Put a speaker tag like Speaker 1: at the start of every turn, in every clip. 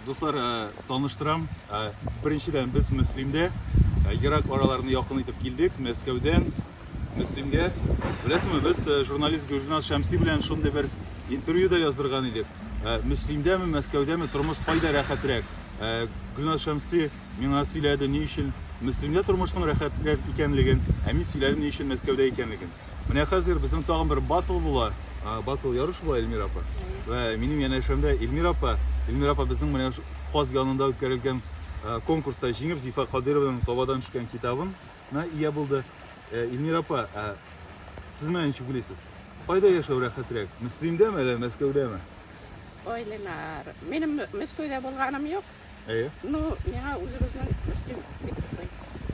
Speaker 1: Дуслар, таныштырам. Беренчедән, без Мөслимдә ерак араларны якын итеп килдек. Мәскәүдән Мөслимгә. Беләсеңме, без журналист Гөлназ Шәмси белән шундый бер интервью да яздырган идек. Мөслимдәме, Мәскәүдәме тормыш кайда рәхәтрәк? Гөлназ Шәмси миңа сөйләде, ни өчен Мөслимдә тормышның рәхәтрәк икәнлеген, ә мин сөйләдем, ни өчен Мәскәүдә икәнлеген. Менә хәзер безнең тагын бер батл була. Батл ярыш була Эльмира апа. Вә минем янәшәмдә Эльмира апа. Эльмира апа безнең менә Каз янында үткәрелгән конкурста җиңеп Зифа Кадыйрованың табадан төшкән китабына ия булды. Эльмира апа, сез менә ничек уйлыйсыз? Кайда яшәү рәхәтрәк? Мөслимдәме әллә Мәскәүдәме? Ой,
Speaker 2: Ленар, минем Мәскәүдә булганым юк. Әйе. Ну, миңа үзегезнең стиль бик ошый.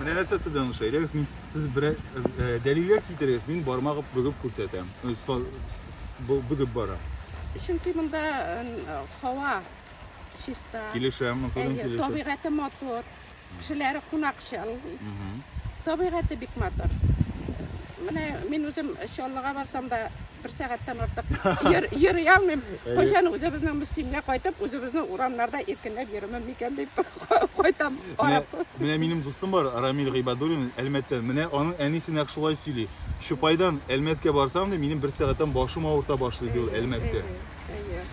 Speaker 2: Менә нәрсәсе
Speaker 1: белән ошый. Әйдәгез, мин сез бер э, э, дәлилләр китерегез, мин бармагып бөгеп күрсәтәм. Э, со- бу- Бөгеп бара. Чөнки монда
Speaker 2: э, һава чиста. Килешәм, монсы
Speaker 1: белән Әйе, килешәм. табигате матур,
Speaker 2: кешеләре кунакчыл, Мгм. табигате бик матур. Менә мин үзем Чаллыга барсам да Бер сәгатьтән артык йөр, йөри алмыйм. Кайчан үзебезнең мөслимгә кайтып, үзебезнең урамнарда иркенләп йөрүмем микән дип кайтам. Менә, менә
Speaker 1: минем дустым бар, Рамил Гыйбадуллин, Әлмәттән. Менә аның әнисе нәкъ шулай сөйли. Чупайдан Әлмәткә барсам, ди, минем бер сәгатьтән башым авырта башлый, ди ул Әлмәттә. Әйе.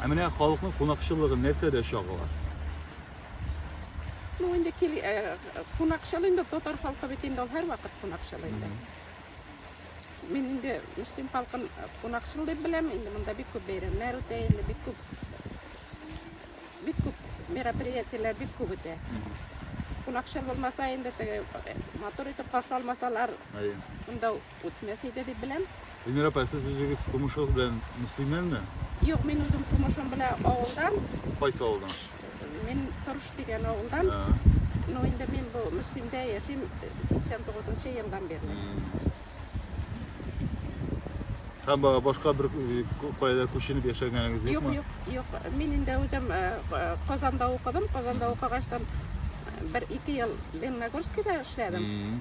Speaker 1: Ә менә халыкның кунакчыллыгы нәрсәдә чагыла? Ну,
Speaker 2: инде кил, кунакчыл инде татар халкы бит инде ул һәрвакыт кунакчыл инде. Мин инде Мөслим халкын кунакчыл дип беләм. Инде монда бик күп бәйрәмнәр үтә, инде бик күп бик күп мероприятиеләр бик күп үтә. Кунакчыл булмаса, инде теге э, матур итеп каршы алмасалар, Әйе. монда үтмәс иде дип беләм. Эльмира апа, сез
Speaker 1: үзегез тумышыгыз белән мөслимнәнме? Юк, мин үзем
Speaker 2: тумышым белән авылдан, Кайсы авылдан?
Speaker 1: Мин
Speaker 2: Торыш дигән авылдан. Ну, инде мин бу Мөслимдә яшим 89 нчы елдан бирле.
Speaker 1: Һәм ба- башка бер э, ку- кайда күченеп яшәгәнегез Юк, юкмы? юк, юк. Мин
Speaker 2: инде үзем э, э, Казанда укыдым. Казанда укыгачтан э, бер ике ел Лениногорскида эшләдем. Мгм.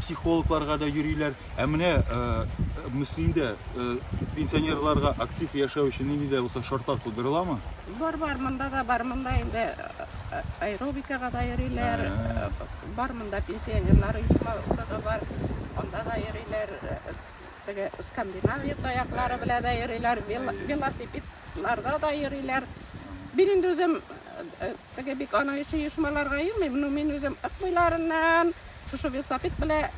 Speaker 1: психологларга да йөриләр. Ә менә Мөслимдә пенсионерларга актив яшәү өчен нинди дә булса шартлар тудырыламы? Бар, бар, монда
Speaker 2: да бар, монда инде аэробикага да йөриләр. Бар монда пенсионерлар оешмасы да бар. Анда да йөриләр. Теге Скандинавия таяклары белән дә йөриләр, велосипедларда да йөриләр. Мин инде үзем теге бик аның өчен оешмаларга йөрмим, но мин үзем Ык буйларыннан, Шушы велосипед белән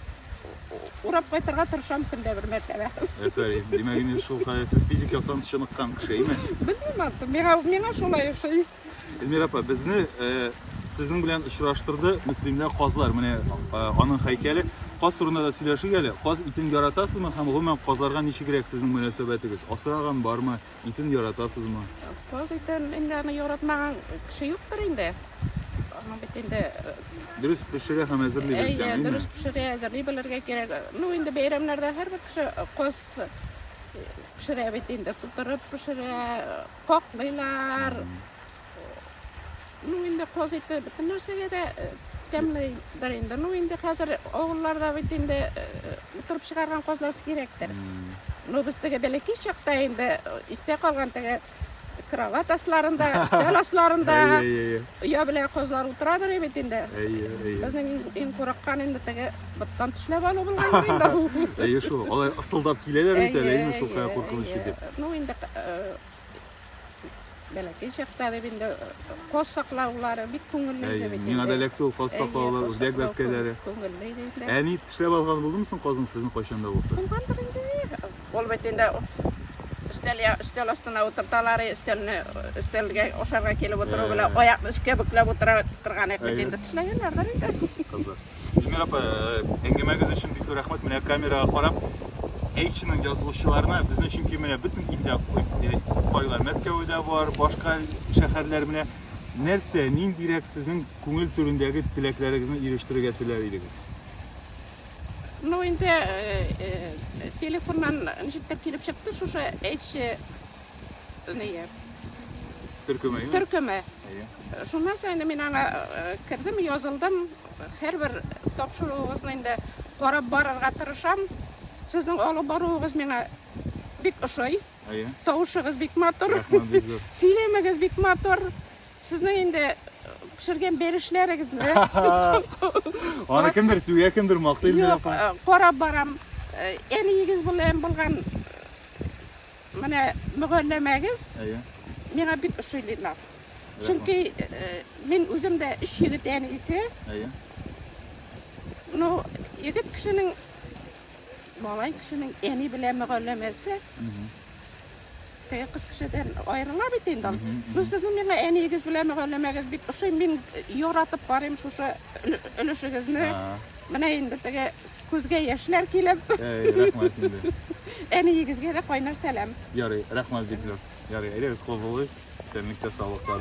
Speaker 2: урап кайтырга тырышам көндә бер мәртәбә. Әфәрин. Димәк,
Speaker 1: инде шул хәле сез физик яктан чыныккан кеше, име? Белмим ансы, миңа,
Speaker 2: миңа шулай ошый. Эльмира апа,
Speaker 1: безне э, сезнең белән очраштырды мөслимләр казлар. Менә э, аның һәйкәле. Каз турында да сөйләшик әле. Каз итен яратасызмы һәм гомумән казларга ничегрәк сезнең мөнәсәбәтегез? Асраган бармы? Итен яратасызмы? Каз итен
Speaker 2: инде аны яратмаган кеше юктыр инде. Аны бит инде э, Дөрес
Speaker 1: пешерә һәм әзерли әйе, белсәң, әйме? дөрес пешерә, әзерли
Speaker 2: белергә кирәк. Ну, инде бәйрәмнәрдә һәрбер кеше э, каз э, пешерә бит инде, тутырып пешерә, э, каклыйлар. Ну, инде коз ите бөтен нәрсәгә дә тәмледер инде. Ну, инде хәзер авылларда бит инде утырып чыгарган козлар сирәктер. Ну, без теге бәләкәй чакта инде истә калган теге кровать асларында, өстәл асларында оя белән козлар утырадыр бит инде. Безнең иң курыккан инде теге быттан төшләп алу булган инде. Әйе шул. Алар ысылдап
Speaker 1: киләләр бит әле, әйме шул кая куркыныч дип. Ну, инде
Speaker 2: Бәләкәй чакта дип инде каз саклаулары бик күңелле иде бит. Миңа да эләкте ул каз саклаулар,
Speaker 1: үрдәк бәбкәләре. Күңелле иде инде.
Speaker 2: Әни тешләп
Speaker 1: алган
Speaker 2: булдымы соң
Speaker 1: казның сезнең кайчан
Speaker 2: да булса? Булгандыр
Speaker 1: инде. Ул бит
Speaker 2: инде өстәл я өстәл астына утырталар, өстәлне өстәлгә ашарга килеп утыру белән аякны өскә бөкләп утыра торган икән инде тешләгәннәрдер инде. Кызык.
Speaker 1: Эльмира апа, әңгәмәгез өчен бик зур рәхмәт. Менә камерага карап, H-ның язылучыларына безнең өчен кем менә бөтен илдә кайлар. Мәскәүдә бар, башка шәһәрләр менә нәрсә, ниндирәк сезнең күңел түрендәге теләкләрегезне ирештерергә теләр идегез?
Speaker 2: Ну, инде телефоннан ничектер килеп чыкты шушы H Ния. Төркеме, ия? Төркеме. Ия. Шуннан соң инде мин аңа кердем, язылдым. Һәрбер тапшыруыгызны инде карап барырга тырышам. Сезнең алып баруыгыз миңа бик ошый. Ия. Тавышыгыз бик матур. Рәхмәт, бик зур. Сөйләмегез бик матур. Сезнең инде пешергән бәлешләрегезне
Speaker 1: Аны кемдер сүгә, кемдер мактый инде. Юк, карап
Speaker 2: барам. Әниегез белән булган Менә мөгалләмәгез миңа бик ошый, Ленар. Чөнки мин үзем дә өч егет әнисе. Ну, егет кешенең, малай кешенең әни белән мөгалләмәсе теге кыз кешедән аерыла бит инде ул. Ну, сезнең миңа әниегез белән мөгалләмәгез бик ошый. Мин яратып карыйм шушы өлешегезне. Менә инде теге Күзгә яшьләр килеп. Әй,
Speaker 1: рәхмәт инде. Әниегезгә
Speaker 2: дә кайнар сәлам.
Speaker 1: Ярый, рәхмәт бик зур. Ярый, әйдәгез кул булыйк. Исәнлектә,
Speaker 2: саулыкта.